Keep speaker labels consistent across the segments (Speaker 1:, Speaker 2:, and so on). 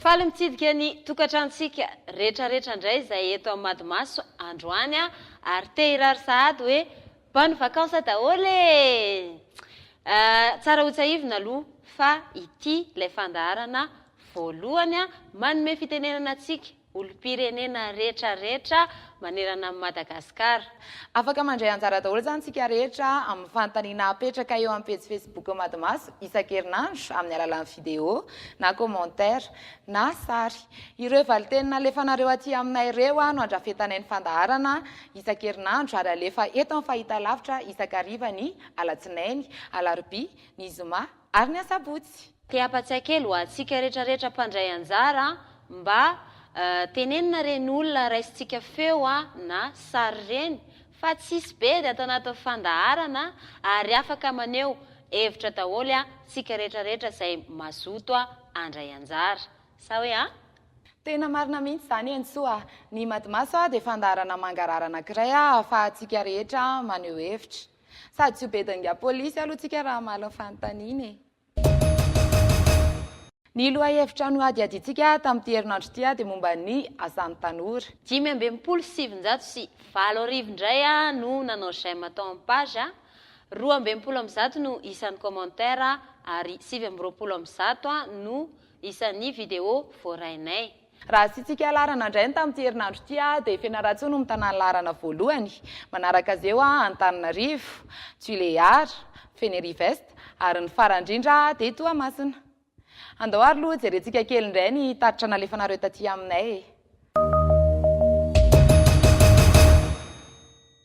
Speaker 1: Faly mitsidika ny tokantranontsika retraretra indray izay eto amin'ny Madimaso androany ary te hirary sahady hoe bonne vacances daholo e! Tsara hotsahivina aloha fa ity ilay fandaharana Voalohany, manome fitenenana antsika olom-pirenena rehetra rehetra manerana an'i Madagasikara. Afaka mandray
Speaker 2: anjara daholo izany isika rehetra amin'ny fanontaniana apetraka eo amin'ny pejy Facebook Madmaso isan-kerinandro amin'ny alalan'ny video na commentaire na sary. Ireo valinteny nalefanareo aty aminay ireo no andrafetanay ny fandaharana isan-kerinandro ary alefa eto amin'ny fahitalavitra isan-kariva ny alatsinainy, alarobia, ny zoma, ary ny asabotsy. Te hampatsiahy kely
Speaker 1: ho antsika rehetra rehetra mpandray anjara mba tenenina reny olona raisintsika feo na sary reny fa tsisy be de atao anatin'ny fandaharana ary afaka maneho hevitra daholo tsika rehetra rehetra zay mazoto andray anjara sa hoe a? Tena
Speaker 2: marina mihitsy zany Henintsoa a! Ny Madimaso de fandaharana mangarahara anakiray ahafahantsika rehetra maneho hevitra. Sady tsy ho be dinga polisy aloha tsika raha hamaly ny fanontaniana e. Ny lohahevitra nohadihadiantsika tamin'ity herinandro ity dia momba ny asan'ny tanora. Dimy amby enimpolo sy sivinjato sy valo arivo indray no nanao j'aime tao amin'ny page, roa amby enimpolo amby zato no isan'ny commentaires ary sivy amby roapolo amby zato no isan'ny vidéo voarainay. Raha asiantsika laharana indray ny tamin'ity herinandro ity dia Fianarantsoa no mitana ny laharana voalohany. Manaraka azy eo Antananarivo, Tuléar, Fenerive-Est ary ny farany indrindra dia Toamasina. Andao ary aloha jerentsika kely indray ny tatitra nalefanareo taty aminay e!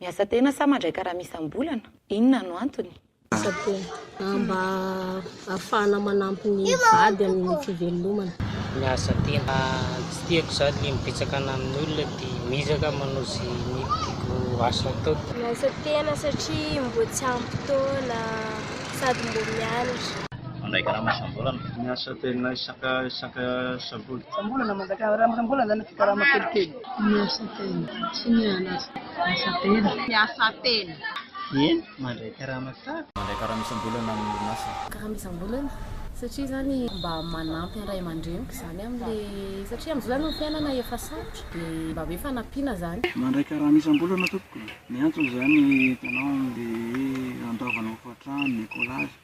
Speaker 2: Miasa tena sa mandray karama isam-bolana? Inona no antony? Miasa tena,
Speaker 3: mba hahafahana manampy ny vady amin'ny fivelomana. Miasa
Speaker 4: tena, tsy tiako izany ny mibetsakana amin'ny olona dia mihizaka manao izay mety ho asa atao. Miasa tena
Speaker 5: satria mboa tsy ampy taona sady mboa mianatra. Mandray karama
Speaker 4: isam-bolana. Miasa tena isaka isaka sabotsy. Isam-bolana mandray
Speaker 3: karama isam-bolana izany na tsy karama kelikely. Ny asatena. Tsy ny an'asa. Ny asatena. Ny asatena. Eny, mandray
Speaker 4: karama tsara. Mandray karama isam-bolana
Speaker 6: amin'ny orinasa. Karama isam-bolana
Speaker 7: satria izany mba manampy an'ny ray aman-dreniko izany amin'ilay, satria amin'izao izany ny fiainana efa sarotra dia mba hoe fanampiana izany. Mandray karama isam-bolana
Speaker 8: tompoko. Ny antony izany hitanao amin'ilay hoe handoavana hofan-trano, ny écolage.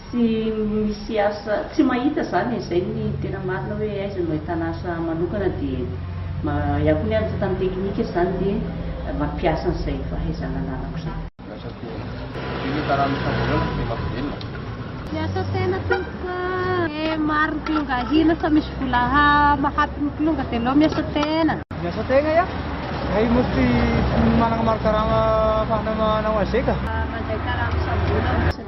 Speaker 9: Tsy misy asa, tsy mahita izany e, izay ny tena marina hoe aiza no ahitana asa manokana dia mahaià koa ny ahy mitantana teknika izany dia mampiasa an'izay fahaizana ananako izay. Lasa toa be
Speaker 6: le tarano fahavelona dia mampivelona. Miasa
Speaker 5: tena tompoko ah. Eh maro ny kilonga ahina fa misy vola ha mahampy ny kilonga de aleo miasa tena. Miasa tegna
Speaker 8: ya, hay moa tsy managna maro karama afahana manao aze ka. Mandray karama isam-bolana.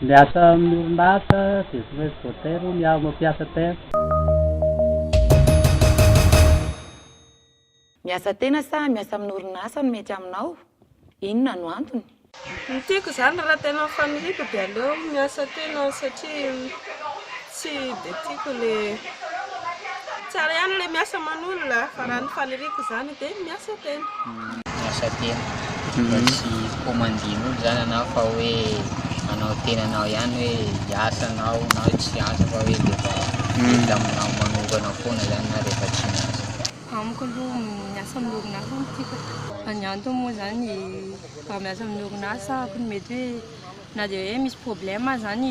Speaker 4: Miasa
Speaker 10: amin'ny orinasa dia tsy maintsy voatery hono iaho mampiasa tena.
Speaker 11: Miasa tena sa miasa amin'ny orinasa no mety aminao? Inona no antony? Ny tiako
Speaker 12: izany raha tena faniriako dia aleo miasa tena satria Tsy dia tiako ilay, tsara ihany ilay
Speaker 13: miasa aman'olona fa raha ny faniriako izany dia miasa tena. Miasa tena, mba tsy commandin'olona izany ianao fa hoe anao tenanao ihany hoe hiasa anao na tsy hiasa fa hoe dia efa mety aminao manokana foana izany ianao rehefa tsy miasa. Amiko aloha
Speaker 14: miasa amin'ny orinasa no tiako fa ny antony moa izany raha miasa amin'ny orinasa aho mety hoe na dia hoe misy problème aza ny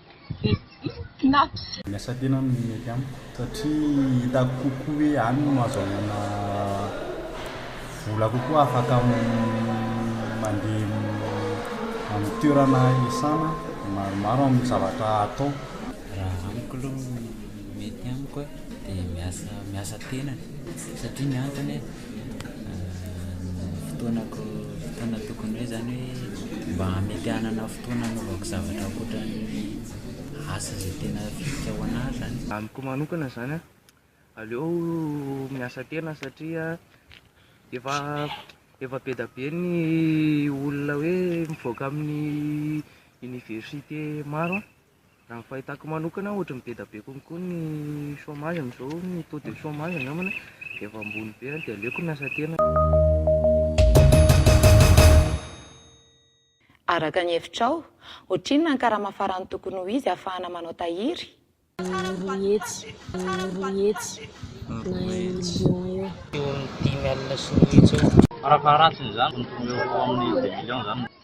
Speaker 5: Miasa tena
Speaker 6: no mety amiko satria hitako kokoa hoe any no ahazoana vola kokoa afaka mandeha amin'ny toerana iasana maromaro amin'ny zavatra atao. Raha amiko
Speaker 15: aloha ny mety amiko dia miasa tena satria ny antony Fotoanako, fotoana tokony hoe zany hoe mba hamety hanana fotoana hanaovako zavatra ankoatran'ny asa izay tena fihiko ho an'ahy zany. Amiko manokana izany
Speaker 8: an, aleo miasa tena satria efa efa be dia be ny olona hoe mivoaka amin'ny université maro an. Raha ny fahitako manokana ohatry ny be dia be konko ny chomage amin'izao ny taux de chomage angambany dia efa ambony be dia aleoko ny asa tena.
Speaker 11: Araka ny hevitrao, ohatrinona ny karama farany tokony ho izy ahafahana manao tahiry? Roa hetsy, roa
Speaker 7: hetsy na million eo. Eo amin'ny dimy
Speaker 4: alina sy roa hetsy eo. Farafaharatsiny izany tokony
Speaker 6: ho eo amin'ny deux millions izany.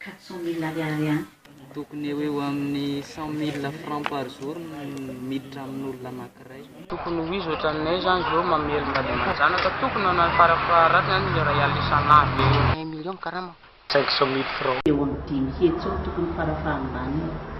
Speaker 8: quatre-cent
Speaker 9: mille ariary ihany. Tokony eo eo
Speaker 16: amin'ny cent mille francs par jour no miditra amin'olona anankiray. Tokony ho izy
Speaker 17: ohatranay zany zao mamely mba de manjanaka tokony na fara faharatiny any le ray alina isan'andro eo eo un million karama. Cinq cent mille francs. Eo amin'ny dimy hetsy
Speaker 9: eo tokony fara fahambaniny.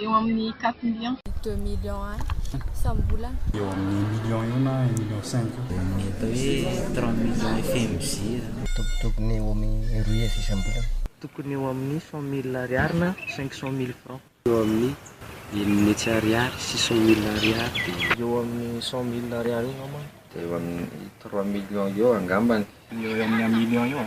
Speaker 5: Eo amin'ny
Speaker 3: quatre millions. Deux
Speaker 7: millions any isam-bolana. Eo amin'ny un
Speaker 6: million eo na un million cinq eo. Ny atao hoe
Speaker 15: trente millions FMJ zany. Tokony
Speaker 18: eo amin'ny roa hetsy isam-bolana. Tokony eo amin'ny
Speaker 16: cent mille ariary na cinq cent mille francs. Eo amin'ny enina hetsy ariary, six cent mille ariary, dia. Eo amin'ny
Speaker 17: cent mille ariary eo angambany. Dia eo amin'ny
Speaker 19: trois millions eo angambany. Eo amin'ny un million
Speaker 6: eo.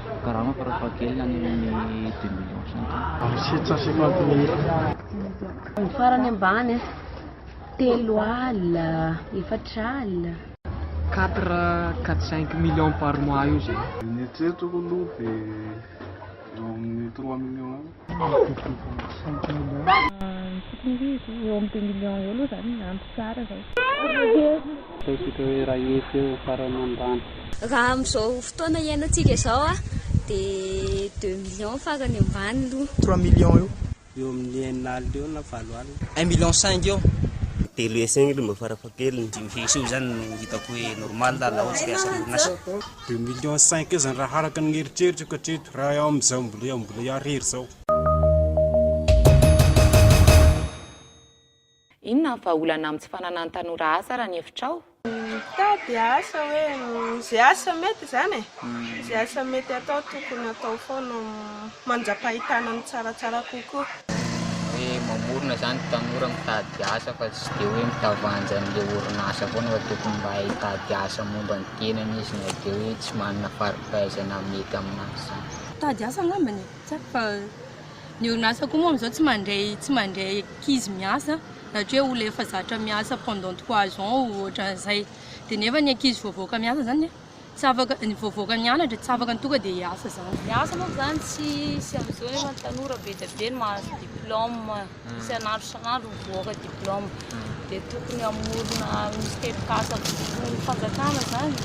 Speaker 8: Karama
Speaker 16: farafahakeliny any amin'ny deux millions centimes. Sept cent cinquante mille.
Speaker 6: Ny farany ambany
Speaker 3: a, telo alina, efatra alina. Quatre, quatre
Speaker 17: cinq millions par mois eo zany. Ny eritreritro aloha
Speaker 6: dia eo amin'ny trois millions eo.
Speaker 10: Raha amin'izao
Speaker 20: fotoana iainantsika izao dia deux millions farany ambany aloha. Trois millions eo.
Speaker 18: Eo amin'ny
Speaker 10: enina alina eo na valo alina. Un million cinq eo.
Speaker 21: Telo hesy eo
Speaker 22: aloha mba farafahakeliny. Dimy hesy eo izany no hitako hoe normal raha ohatrika asan'orinasa. Deux millions
Speaker 18: cinq eo zany raha araka ny eritreritrako hatreto raha eo amin'izao mbola eo mbola eo ariary izao.
Speaker 11: Inona ny vahaolana amin'ny tsy fananan'ny tanora asa raha ny hevitrao? Mitady
Speaker 12: asa hoe izay asa mety izany e, izay asa mety atao tokony atao foana. mandra-pahitana ny tsaratsara kokoa. Hoe
Speaker 13: mamorona izany tanora mitady asa fa tsy dia hoe mitavanja an'ilay orinasa foana fa tokony mba hay hitady asa momba ny tenany izy na dia hoe tsy manana fari-pahaizana mety amin'azy izany. Mitady asa angambany
Speaker 14: e! Tsy haiko fa ny orinasa koa moa amin'izao tsy mandray tsy mandray ankizy miasa na tsy hoe olona efa zatra miasa pendant trois ans ohatran'izay dia nefa ny ankizy voavoaka miasa izany dia. Tsy afaka, vao voaka ny anatra, tsy afaka ny tonga dia hiasa zany. Ny asa manko zany tsy
Speaker 2: sy amizao nefa ny tanora be dia be no mahazo diplôme isan'andro isan'andro mivoaka diplôme dia tokony hamorona misy tetikasa votoan'ny fanjakana zany.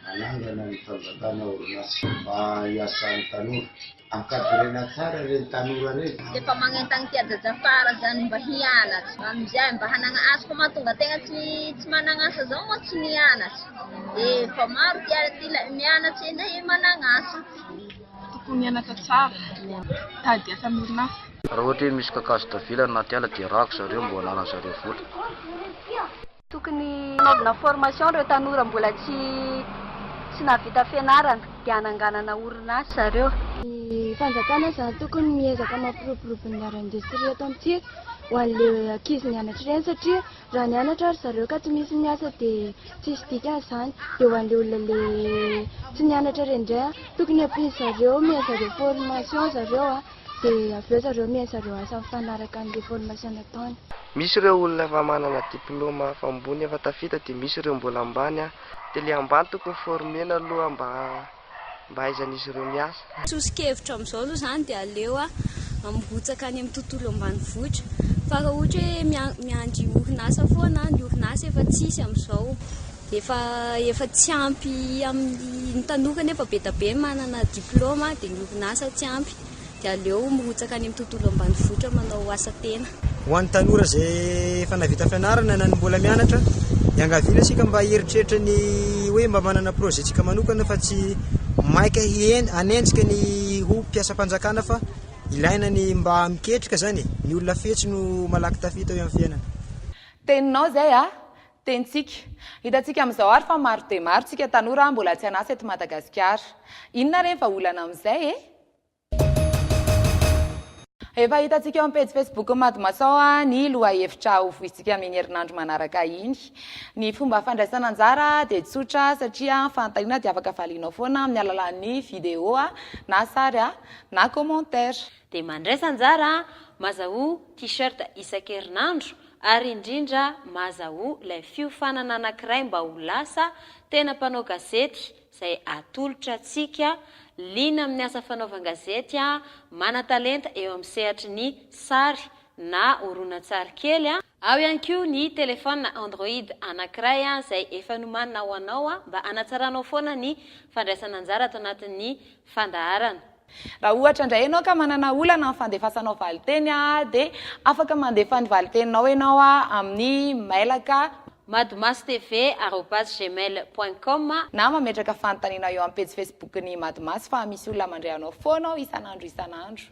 Speaker 2: Hanangana ny
Speaker 23: fanjakana orinasa mba hiasan'ny tanora. Ankavirena tsara reny tanora reny. Dia efa magnentagna ty
Speaker 3: ajaja fara zany mba hianatra amizay mba hanagna asa fa mahatonga tegna tsy tsy managna asa zao moa tsy nianatra de efa maro ty ary ty ilay mianatra eny e managna asa tokony
Speaker 5: hianatra tsara mitady asa amin'ny orinasa. Raha ohatra hoe misy
Speaker 24: kakazo tavela anaty ala dia rako zareo mba ho ananan'zareo vola.
Speaker 3: Tokony hanaovana formation ireo tanora mbola tsy tsy nahavita fianarana dia hananganana orinasa zareo. Ny fanjakana
Speaker 5: izany tokony miezaka mampiroborobo ny art industrie eto amintsika ho an'le ankizy mianatra ireny satria raha nianatra ary zareo ka tsy misy miasa dia tsisy dikany izany dia ho an'le olona le tsy nianatra ireny indray an tokony ampian'zareo omena zareo formation zareo an. Dia avy eo zareo mihaino zareo asa mifanaraka ny reformation nataony. Misy ireo olona
Speaker 8: efa manana diploma hafa ambony efa tafita dia misy ireo mbola ambany an! Dia le ambany tokony former-na aloha mba mba ahaizan'izy ireo miasa. Soso-kevitro amin'izao
Speaker 20: aloha izany dia aleo mirotsaka any amin'ny tontolo ambanivohitra fa raha ohatra hoe miandry orinasa foana an, ny orinasa efa tsisy amin'izao. Efa efa tsy ampy amin'ny ny tanora nefa be da be ny manana diploma dia ny orinasa tsy ampy dia aleo mirotsaka any amin'ny tontolo ambanivohitra manao asa tena. Ho an'ny tanora
Speaker 18: izay efa nahavita fianarana na ny mbola mianatra, iangaviana isika mba hieritreritra ny hoe mba manana projet tsika manokana fa tsy maika hihen- hanenjika ny ho mpiasam-panjakana fa ilaina ny mba miketrika zany e! ny olona fetsy no malaky tafita eo amin'ny fiainana. Teninao
Speaker 11: zay a! Tenintsika. Hitantsika amin'izao ary fa maro dia maro tsika tanora mbola tsy an'asa eto Madagasikara. Inona re ny vahaolana amin'izay e? Efa hitantsika eo amin'ny pejy Facebook-n'ny Madimaso ny lohahevitra ho voizintsika amin'iny herinandro manaraka iny. Ny fomba fandraisana anjara dia tsotra satria ny fanontaniana dia afaka valianao foana amin'ny alalan'ny video na sary na commentaire. dia mandraisa
Speaker 2: anjara maza ho T-shirt isan-kerinandro ary indrindra maza ho ilay fiofanana anankiray mba ho lasa tena mpanao gazety izay atolotra antsika liana amin'ny asa fanaovan-gazety manan-talenta eo amin'ny sehatry ny sary na horonantsary kely Ao ihany koa ny telefaonina Android anankiray izay efa nomanina ho anao mba hanatsaranao foana ny fandraisana anjara ato anatin'ny fandaharana. Raha ohatra
Speaker 11: indray ianao ka manana olana amin'ny fandefasanao valinteny dia afaka mandefa ny valinteninao ianao amin'ny mailaka. Madmasotv arobase
Speaker 2: gmail point com. Na mametraka
Speaker 11: fanontanianao eo amin'ny pejy Facebook-n'ny Madmas fa misy olona mandre anao foana ao isan'andro isan'andro.